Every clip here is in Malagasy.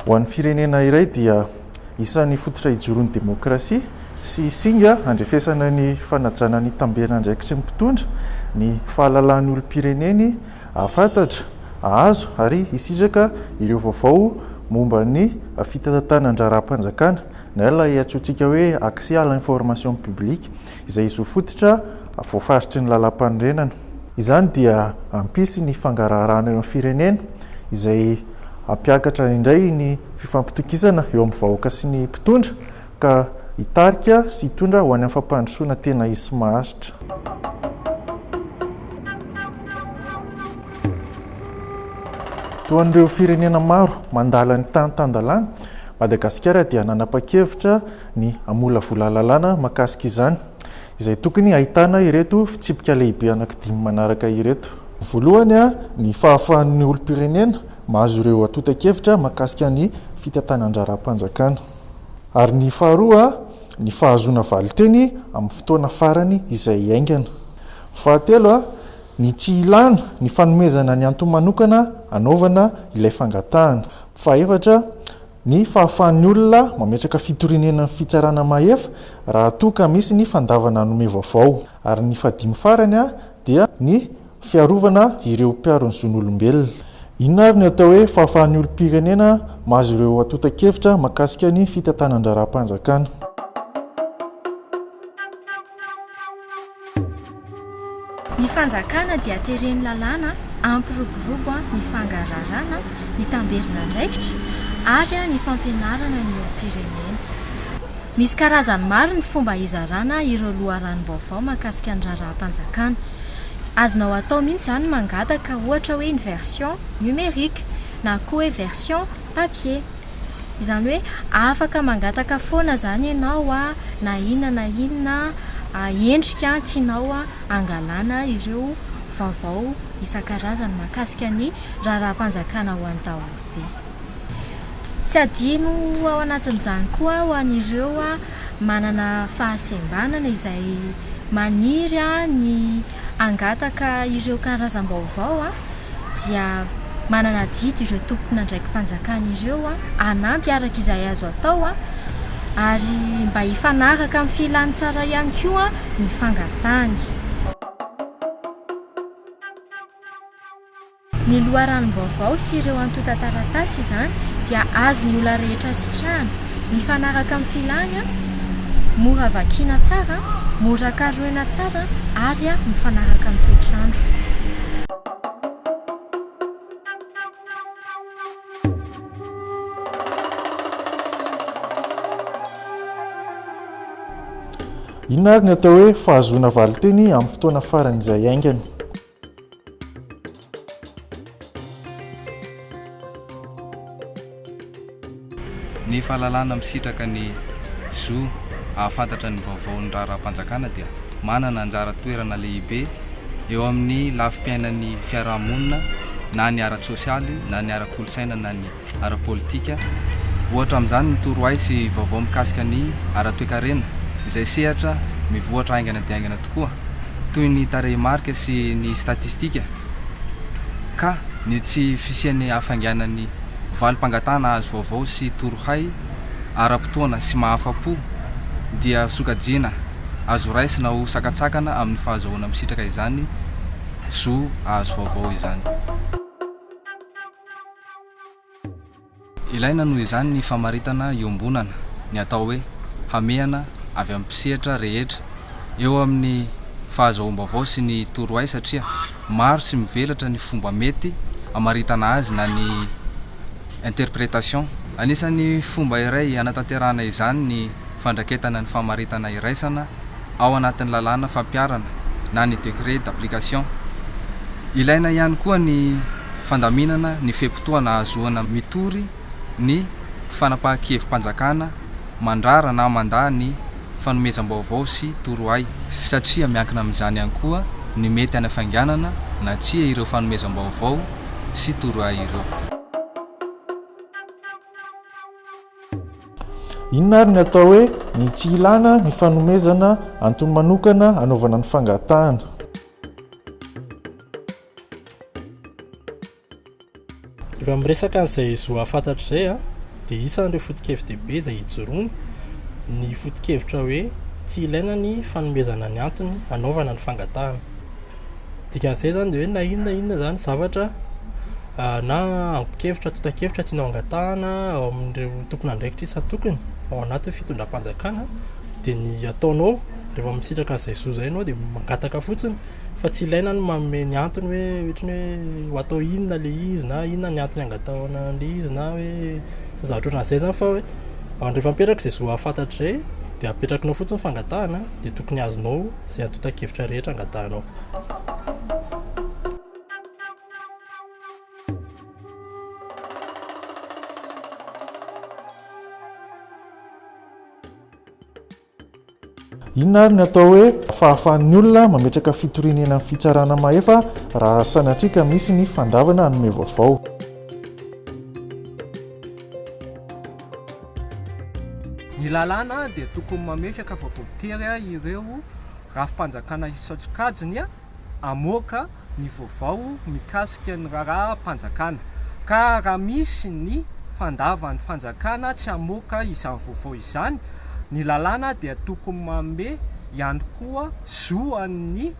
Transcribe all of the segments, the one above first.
Ho an'ny firenena iray dia isan'ny fototra ijoron'ny demokrasia sy singa handrefesana ny fanajana ny tamberandraikitry ny mpitondra ny fahalalahan'ny olom-pireneny hahafantatra, hahazo ary hisitraka ireo vaovao momba ny fitantanan-draharaham-panjakana na ilay antsointsika hoe accès à l'information publique. izay zo fototra voafaritry ny Lalàmpanorenana. Izany dia hampisy ny fangaraharahana eo amin'ny firenena, izay hampiakatra indray ny fifampitokisana eo amin'ny vahoaka sy ny mpitondra, ka hitarika sy hitondra ho any amin'ny fampandrosoana tena izy sy maharitra. Toa an'ireo firenena maro mandala ny tany tan-dalàna, Madagasikara dia nanapa-kevitra, ny hamolavola lalàna mahakasika izany, izay tokony hahitana ireto fitsipika lehibe anankidimy manaraka ireto. Voalohany, ny fahafahan'ny olom-pirenena mahazo ireo antontan-kevitra mahakasika ny fitantanan-draharaham-panjakana, ary ny faharoa, ny fahazoana valin-teny amin'ny fotoana farany izay haingana. Fahatelo, ny tsy ilàna ny fanomezana ny antony manokana hanaovana ilay fangatahana. Fahaefatra, Ny fahafahan'ny olona mametraka fitorianenan'ny fitsarana mahefa raha toa ka misy ny fandavana hanome vaovao. Ary ny fahadimy farany dia ny fiarovana ireo mpiaro ny zon'olombelona. Inona ary ny atao hoe fahafahan'ny olom-pirenena mahazo ireo antontan-kevitra mahakasika ny fitantanan-draharaham-panjakana? Ny fanjakana dia tereny lalàna ampiroborobo ny fangararana, ny tamberin'andraikitra ary ny fampianarana ny olom-pirenena. Misy karazany maro ny fomba hizarana ireo loharanom-baovao mahakasika ny raharaham-panjakana. Azonao atao mihitsy izany ny mangataka ohatra hoe ny version numérique na koa hoe version papier. Izany hoe afaka mangataka foana izany ianao na inona na inona endrika tianao hangalana ireo vaovao isan-karazany mahakasika ny raharaham-panjakana ho an'ny daholobe. Tsy adino ao anatin'izany koa ho an'ireo manana fahasembanana izay maniry ny hangataka ireo karazam-baovao dia manana adidy ireo tompon'andraiki-panjakana ireo hanampy araka izay azo atao ary mba hifanaraka amin'ny filàn'ny tsara ihany koa ny fangatahany. Ny loharanom-baovao sy ireo antontan-taratasy izany dia azon'ny olona rehetra sitrahana, mifanaraka amin'ny filàny, mora vakiana tsara, mora karohina tsara ary mifanaraka amin'ny toetr'andro. Inona ary ny atao hoe fahazoana valinteny amin'ny fotoana faran'izay aingana? Ny fahalalana misitraka ny zo hahafantatra ny vaovaon'ny raharaham-panjakana dia manana anjara toerana lehibe eo amin'ny lafim-piainan'ny fiarahamonina na ny ara-tsosialy na ny ara-kolontsaina na ny ara-politika. Ohatra amin'izany ny torohay sy vaovao mikasika ny ara-toekarena, izay sehatra mivoatra haingana dia haingana tokoa, toy ny tarehimarika sy ny statistika, ka ny tsy fisian'ny hafainganan'ny valim-pangatahana hahazo vaovao sy torohay ara-potoana sy mahafa-po dia sokajiana azo raisina ho sakantsakana amin'ny fahazahoana misitraka izany zo hahazo vaovao izany. Ilaina noho izany ny famaritana iombonana, ny atao hoe hamehana avy amin'ny mpisehatra rehetra eo amin'ny fahazoam-baovao sy ny torohay satria maro sy mivelatra ny fomba mety amaritana azy na ny interprétation. Anisan'ny fomba iray hanatanterahana izany ny fandraketana ny famaritana iraisana. ao anatin'ny lalàna fampiharana na ny décret d'application. Ilaina ihany koa ny fandaminana ny fe-potoana ahazoana mitory ny fanapahan-kevi-panjakana mandrara na mandà ny fanomezam-baovao sy torohay, satria miankina amin'izany ihany koa ny mety hanafainganana na tsia ireo fanomezam-baovao sy torohay ireo. Inona ary ny atao hoe ny tsy ilàna ny fanomezana antony manokana hanaovana ny fangatahana? Raha miresaka an'izay zo hahafantatra izay an, dia isan'ireo foto-kevi-dehibe izay ijoroany ny foto-kevitra hoe tsy ilaina ny fanomezana ny antony hanaovana ny fangatahana. Dikan'izay izany dia hoe na inona na inona izany zavatra na angon-kevitra, antontan-kevitra tianao hangatahana ao amin'ireo tomponandraikitra isan-tokony ao anatin'ny fitondram-panjakana dia ny ataonao rehefa misitraka an'izay zo izay ianao dia mangataka fotsiny fa tsy ilaina ny manome ny antony hoe ohatra ny hoe ho atao inona ilay izy na inona ny antony hangatahana an'ilay izy na hoe izay zavatra ohatran'izay izany fa hoe rehefa mipetraka izay zo hahafantatra izay dia apetrakinao fotsiny ny fangatahana dia tokony azonao. Izay antontan-kevitra rehetra angatahanao. Inona ary ny atao hoe fahafahan'ny olona mametraka fitoriana eny amin'ny fitsarana mahefa raha sanatria ka misy ny fandavana hanome vaovao? Ny lalàna dia tokony mametraka fa voatery ireo rafi-panjakana isan-tsokajiny hamoaka ny vaovao mikasika ny raharaham-panjakana ka raha misy ny fandavan'ny fanjakana tsy hamoaka izany vaovao izany, ny lalàna dia tokony manome ihany koa zo an'ny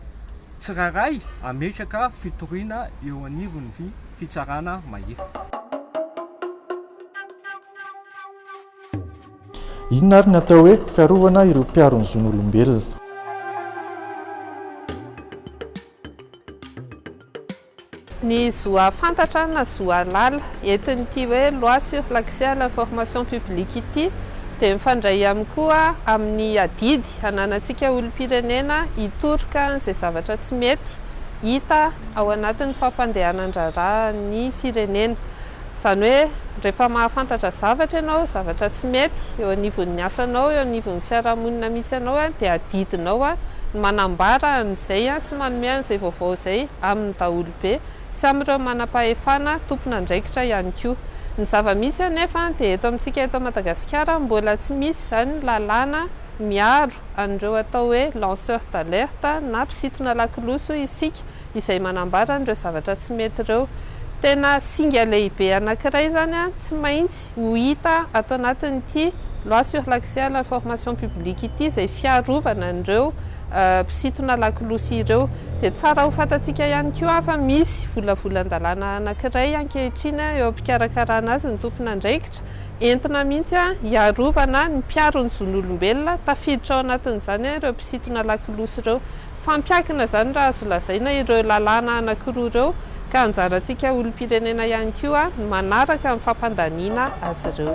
tsirairay hametraka fitoriana eo anivon'ny fitsarana mahefa. Inona ary ny atao hoe fiarovana ireo mpiaro ny zon'olombelona? Ny zo hahafantatra na zo hahalala. Entin'ity hoe Loi sur l'accès à l'information publique ity dia mifandray ihany koa amin'ny adidy ananantsika olom-pirenena hitoroka an'izay zavatra tsy mety hita ao anatin'ny fampandehanan-draharahan'ny firenena. Izany hoe, rehefa mahafantatra zavatra ianao, zavatra tsy mety eo anivon'ny asanao, eo anivon'ny fiarahamonina misy anao, dia adidinao ny manambara an'izay sy manome an'izay vaovao izay amin'ny daholobe sy amin'ireo manam-pahefana tompon'andraikitra ihany koa. Ny zava-misy anefa dia eto amintsika eto Madagasikara mbola tsy misy izany lalàna miaro an'ireo atao hoe lanceurs d'alerte na mpisintona lakolosy hoy isika, izay manambara an'ireo zavatra tsy mety ireo. Tena singa lehibe anankiray izany tsy maintsy ho hita ato anatin'ity Loi sur l'accès à l'information publique ity izay fiarovana an'ireo mpisintona lakolosy ireo. Dia tsara ho fantatsika ihany koa fa misy volavolan-dalàna anankiray ankehitriny eo am-pikarakarana azy ny tompon'andraikitra, entina mihitsy hiarovana ny mpiaro ny zon'olombelona, tafiditra ao anatin'izany ireo mpisintona lakolosy ireo. Fampiankina izany raha azo lazaina ireo lalàna anankiroa ireo ka anjarantsika olom-pirenena ihany koa ny manaraka ny fampandaniana azy ireo.